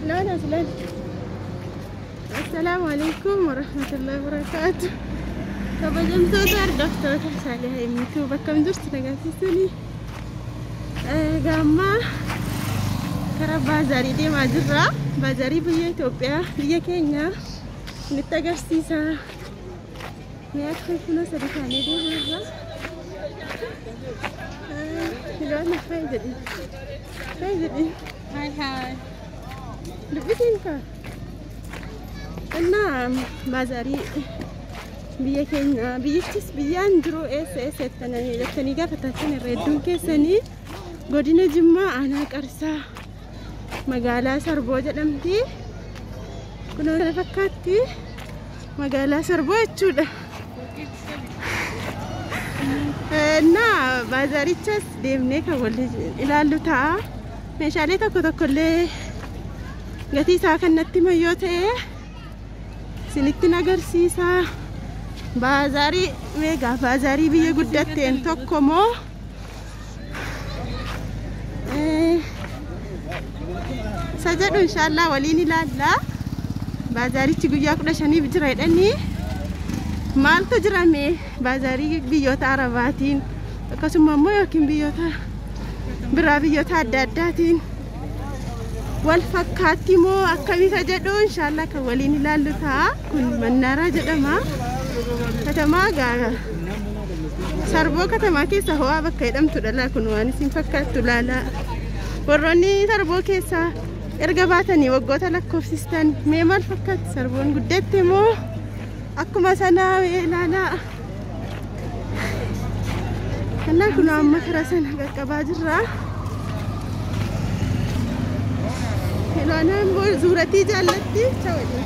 Laala as laala. Assalaamu alaikum warahmatullahi wabarakaatu. Kabajamtoota hordoftoota Saalih Himmituu bakka hin jirtu nagarsiisanii gaammaa karaa baazaarii deemaa jirra. Baazaarii biyya Itoophiyaa biyya keenya nutti agarsiisa. Nyaata kunoo sadi taanee deemaa irraa. Filoona hayi jedhi. Hayi jedhi. Hayi hayi. Dubbitiin koo. Innaa baazaarii biyya keenya biyyichis biyyaan jiru eessa eessa jettananii jettanii gaafatattan irra hedduun keessanii godina Jimmaa aanaa Qarsaa magaalaa sarboo jedhamti kunoo kana fakkaatti magaalaa sarboo jechuudha na baazaarichas deemnee kan wal ilaallu ta'a meeshaalee tokko tokko illee gatii isaa kan natti himan yoo ta'e isinittin agarsiisa baazaarii meegaa baazaarii biyya guddatteen tokko moo Eh, isa jedhu inshaallah waliin ilaalla baazaarichi guyyaa kudha shaniif jira jedhanii maaltu jirame baazaarii biyyoota arabaatiin akkasuma immoo yookiin biyyoota biraa biyyoota adda addaatiin wal fakkaatti moo akkamii ka jedhu inshaallah kan waliin ilaallu ta'a kun mannaaraa jedhama katamaa gaara sarboo katamaa keessa ho'aa bakka jedhamtu dhala kun waan isin fakkaattu laalaa warroonni sarboo keessaa erga baatanii waggoota lakkoofsistan mee maal fakkaatti sarboon guddatte moo akkuma sanaa mee ilaalaa Kallaa kun amma karaa sana qaqqabaa jirra. Ilaanaan boo zuuratii jaallatti. Chawwa jedhe.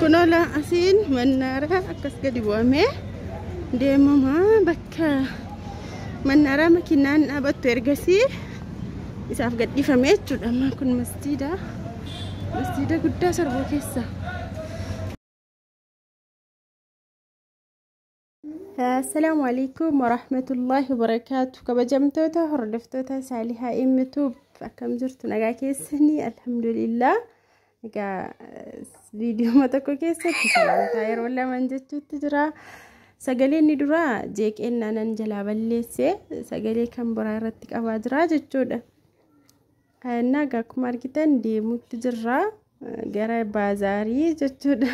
Kunola asiin mannaara akkas gadi bu'amee deemama bakka mannaaraa makiinaan dhaabattu ergasii isaaf gadhiifame jechuudha. Amma kun masjiida masjiida guddaa sarbuu keessa. Assalaamu alaikum warahmatullahi wabarakaatu kabajamtoota hordoftoota saalihaa imituub akkam jirtu nagaa keessanii alhamdulillah egaa viidiyooma tokko keessatti sagantaa yeroo lamaan jechuutti jira sagaleen ni dura jeeqeen naanan jalaa balleesse sagalee kan biraa irratti qabaa jira jechuudha Naga akkuma argitan deemuutti jirra gara baazaarii jechuudha.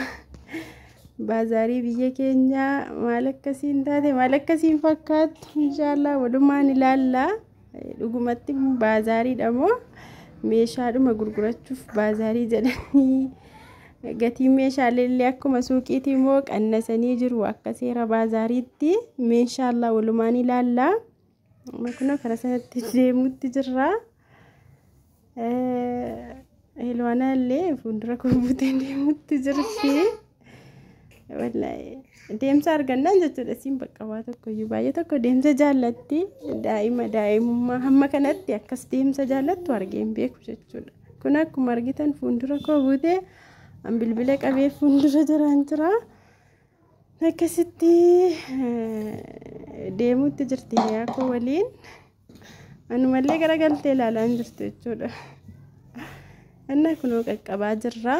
Baazaarii biyya keenya maal akkasiin taate maal akkasiin fakkaattu inshaallah walumaan ilaalla. Dhugumatti baazaariidha moo meeshaadhuma gurgurachuuf baazaarii jedhanii gatiin meeshaalee illee akkuma suuqiitii moo qannasanii jiru akka seera baazaariitti inshaallah walumaan ilaalla. Kunoo karaa sanatti deemutti jirra. Hilwaanaa illee fuuldura koo buutee deemutti jirti. Deemsa argannaan jechuudha siin bakka waa tokko iyyuu baay'ee tokko deemsa jaallatti daa'ima daa'imummaa hamma kanatti akkas deemsa jaallattu argee hin beeku jechuudha. Kun akkuma argitan fuuldura koo buutee bilbila qabee fuuldura jiraan jira. Akkasitti deemuutti jirti hiriyaa koo waliin. Anumallee garagaltee ilaalaa hin jirtu jechuudha. Innaa kunoo qaqqabaa jirra.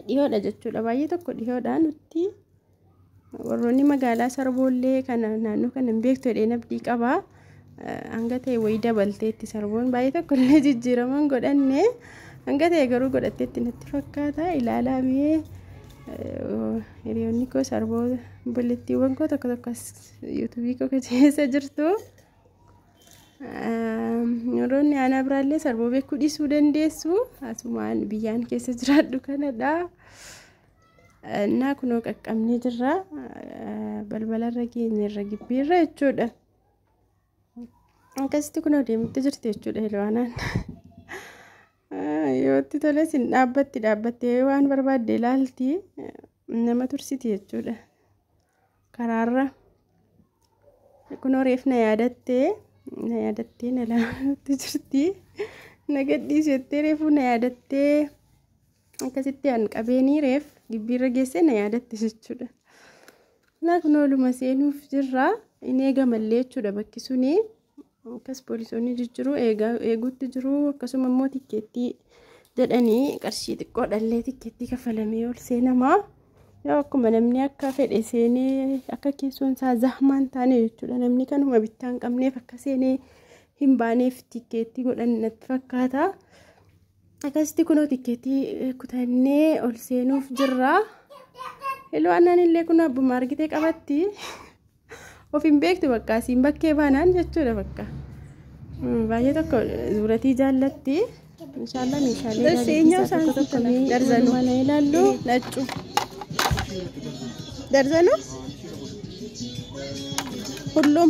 Dhihoodha jechuudha. Baay'ee tokko dhihoodha nutti. Warroonni magaalaa sarboollee kana naannoo kana hin beektu jedheen abdii qaba. Hanga ta'e wayii dabalteetti sarboon baay'ee tokko illee jijjiiraman godhanne hanga ta'e garuu godhatteetti natti fakkaata ilaalaa mee hiriyoonni koo sarboo bullettiiwwan koo tokko tokko as yuutuubii koo keessa jirtu. Yeroonni aanaa biraallee sarboo beekuu dhiisuu dandeessu asumaan biyyaan keessa jiraadhu kanadha. Naa kunoo qaqqabnee jirra. Balbalarra geenyerra gibbiirra jechuudha. Akkasitti kunoo deemutti jirti jechuudha Heelwaanaan. Yoo itti tole sin dhaabbatti dhaabbattee waan barbaadde ilaalti nama tursiti jechuudha. karaarra kunoo reef na yaadattee na yaadattee na laalutti jirti na gadhiisi jettee reefuu na yaadattee akkasitti an qabeenii reef gibbiirra geessee na yaadatte jechuudha. Naa kun ooluma seenuuf jirra hin eegamallee jechuudha bakki suni Akkas poolisoonni jijjiru eeguutti jiru akkasuma immoo tikkeettii jedhanii qarshii xiqqoo dhallee tikkeettii kafalamee ol seenama. Yoo akkuma namni akka fedhe seenee akka keessoon isaa zahmaan taane jechuudha namni kanuma bittaa hin qabneef akka seenee hin baaneef tikkeettii godhan natti fakkaata. Akkasitti kunoo tikkeettii kutannee ol seenuuf jirra. Ilwaannaan illee kun abbuma argitee qabatti. Of hin beektu bakka asiin bakkee baanaan jechuudha bakka. Baay'ee tokko zuuratii jaallatti. Inshaallah meeshaalee Bas gaarii eenyaaf keessaa tokko tokko saanfii mee darzanuu. mana ilaallu. Naccu. Darzanu? Hullum.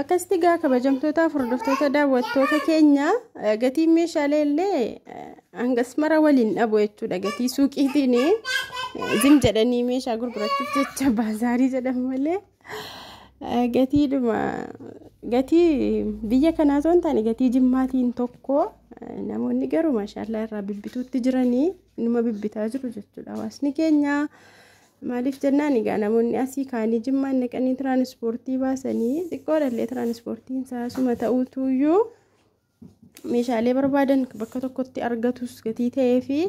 Akkasitti gaa kabajamtootaaf hordoftoota daawwattoota keenya gatiin meeshaalee illee hangas mara waliin dhabu jechuudha gatii suuqiitiin zim jedhanii meeshaa gurgurachuuf jecha baazaarii jedhamu malee gatiidhuma gatii biyya kanaa osoo hin taane gatii jimmaatiin tokko namoonni garuu maashaallaa irraa bibbituutti jiranii numa bibbitaa jiru jechuudha hawaasni keenya Maaliif jennaan egaa namoonni asii kaanii jimmaan naqanii tiraanispoortii baasanii xiqqoodhallee tiraanispoortiin isaa suma ta'uutuyyuu meeshaalee barbaadan bakka tokkotti argatus gatii ta'ee fi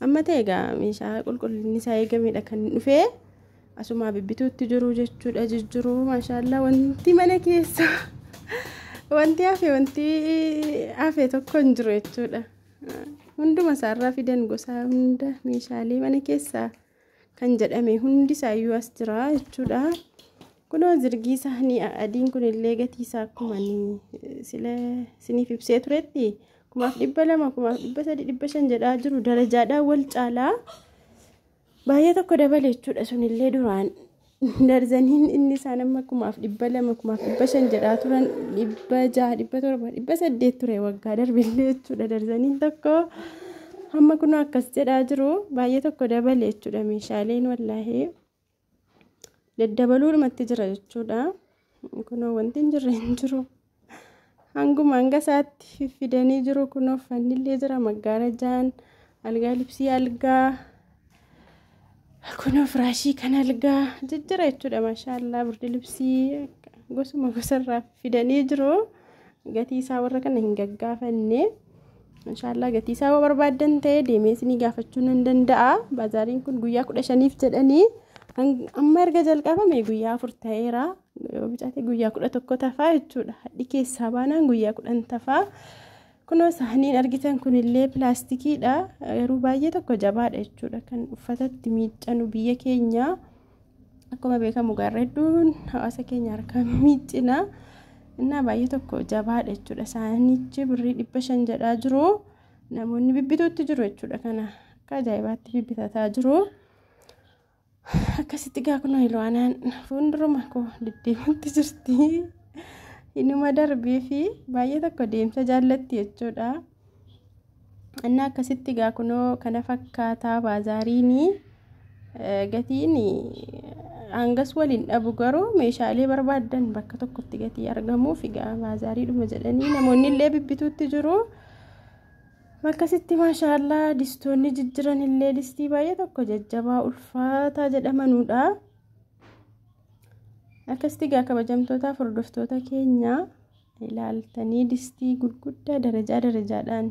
amma ta'e egaa meeshaa qulqullinni isaa eegamedha kan dhufee asumaa bibbituutti jiru jechuudha jijjiru maashaallaa wanti mana keessa wanti hafe wanti hafe tokko hin jiru jechuudha hunduma isaarraa fidan gosaa hunda meeshaalee mana keessaa. kan jedhame hundi isaayyuu as jira jechuudha. Kunoo zirgii saanii adiin kun illee gatii isaa akkuma sila siniif ibsee turetti kumaaf dhibba lama kumaaf dhibba sadii dhibba shan jedhaa jiru darajaadhaan wal caalaa baay'ee tokko dabale jechuudha sunillee duraan darzaniin inni isaan amma kumaaf dhibba lama kumaaf dhibba shan jedhaa turan dhibba jaha dhibba torba dhibba saddeet ture waggaa darbillee jechuudha darzaniin tokko amma kun akkas jedhaa jiru baay'ee tokko dabale jechuudha meeshaaleen wallaahee daddabaluudhumatti jira jechuudha kunoo wanti hin jirre hin jiru. hanguma hanga isaatti fiffidanii jiru kun uffanni illee jira maggaarajaan algaa libsii algaa kun firaashii kan algaa jijjira jechuudha maashaallaa birdi libsii gosuma gosarraa fidanii jiru gatii isaa warra kana hin gaggaafanne maashaallaa gatii isaa yoo barbaaddan ta'e deemee isinii gaafachuu nan danda'a baazaariin kun guyyaa kudha shaniif jedhanii amma erga jalqabame guyyaa afur ta'eera. Yoo bicaate guyyaa kudha tokko tafaa jechuudha. Hadhi keessaa baanaan guyyaa kudhan tafaa. Kunoo saaniin argitan kunillee pilaastikiidha. Garuu baay'ee tokko jabaadha jechuudha. Kan uffatatti miiccanu biyya keenya akkuma beekamu gaarra hedduun hawaasa keenya harkaa miiccina. Innaa baay'ee tokko jabaadha jechuudha. Saanichi birrii dhibba shan jedhaa jiru. Namoonni bibbituutti jiru jechuudha kana. Akka ajaa'ibaatti bibbitataa jiru. Akkasitti gaa kunoo Ilwaanaan fuulduruma koo deddeemutti jirti. Inuma darbee fi baay'ee tokko deemsa jaallatti jechuudha. Inni akkasitti gaa kunoo kana fakkaataa baazaariin gatiin hangas waliin dhabu garuu meeshaalee barbaadan bakka tokkotti gatii argamuuf egaa baazaariidhuma jedhanii namoonni illee bibbituutti jiru. Akkasitti maashaallah distoonni jijjiran illee distii baay'ee tokko jajjabaa ulfaataa jedhamanuudha. Akkasitti gaa kabajamtootaa hordoftoota keenya ilaaltanii distii gurguddaa darajaa darajaadhaan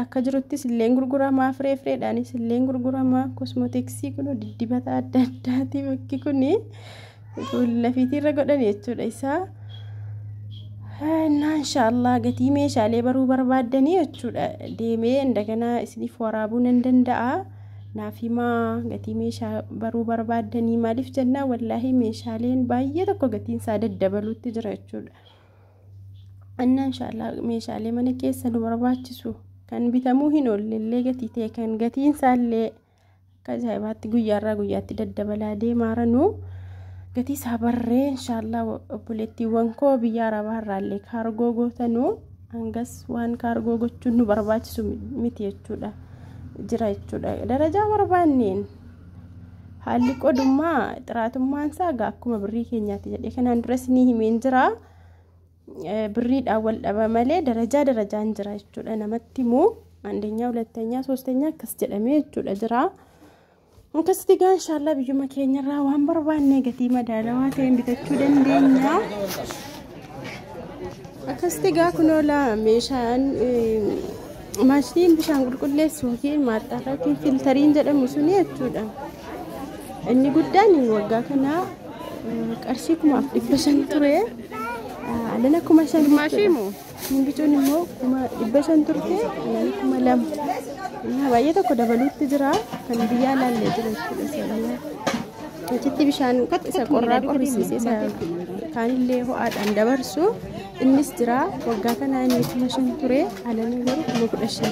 akka jiruttis illeen gurguramaa firee fireedhaanis illeen gurguramaa kosmootiksii kun diddibata adda addaati bakki kuni. lafiitiirra godhan jechuudha isaa innaa inshaallah gatii meeshaalee baruu barbaaddanii jechuudha deemee indaganaa isiniif waraabuu nan danda'a naaf himaa gatii meeshaa baruu barbaaddanii maaliif jennaa wallaahi meeshaaleen baay'ee tokko gatiin isaa daddabaluutti jira jechuudha innaa inshaallah meeshaalee mana keessa nu barbaachisu kan bitamuu hin oollellee gatii ta'e kan gatiin isaallee Akka ajaa'ibaatti guyyaarraa guyyaatti daddabalaa deemaara nu gatii isaa barree inshaallah obboleettiiwwan koo biyya arabaa irraallee kaargoo gootanu hangas waan kaargoo gochuun nu barbaachisu miti jechuudha jira jechuudha darajaa barbaanneen haalli qodummaa xiraatummaan isaa egaa akkuma birrii keenyaatti jedhee kanaan duras ni himeen jira. Birriidhaan wal dhaba malee darajaa darajaan jira jechuudha namatti immoo andenyaa hulattanyaa soostanyaa akkas jedhamee jechuudha jira. Akkasitti egaa inshaallah biyyuma keenyarraa waan barbaanne gatii madaalawaa ta'een bitachuu dandeenya. Akkasitti egaa kunoola meeshaan Maashiniin bishaan qulqulleessu yookiin maaxxaafaa yookiin filtariin jedhamu suni jechuudha. Inni guddaan waggaa kana qarshii kumaaf dhibba shan ture. Alana kuma shan jechuudha. Gimbicuun immoo kuma dhibba shan turte alana kuma lama. Innaa baay'ee tokko dabaluutti jira. Kan biyyaa laallee jira jechuudha seeraan. Achitti bishaan isa qorraa qorrisiisee isa kaanillee ho'aadhaan dabarsu. Innis jira waggaa kana inni kuma shan ture anani garuu kuma kudha shan.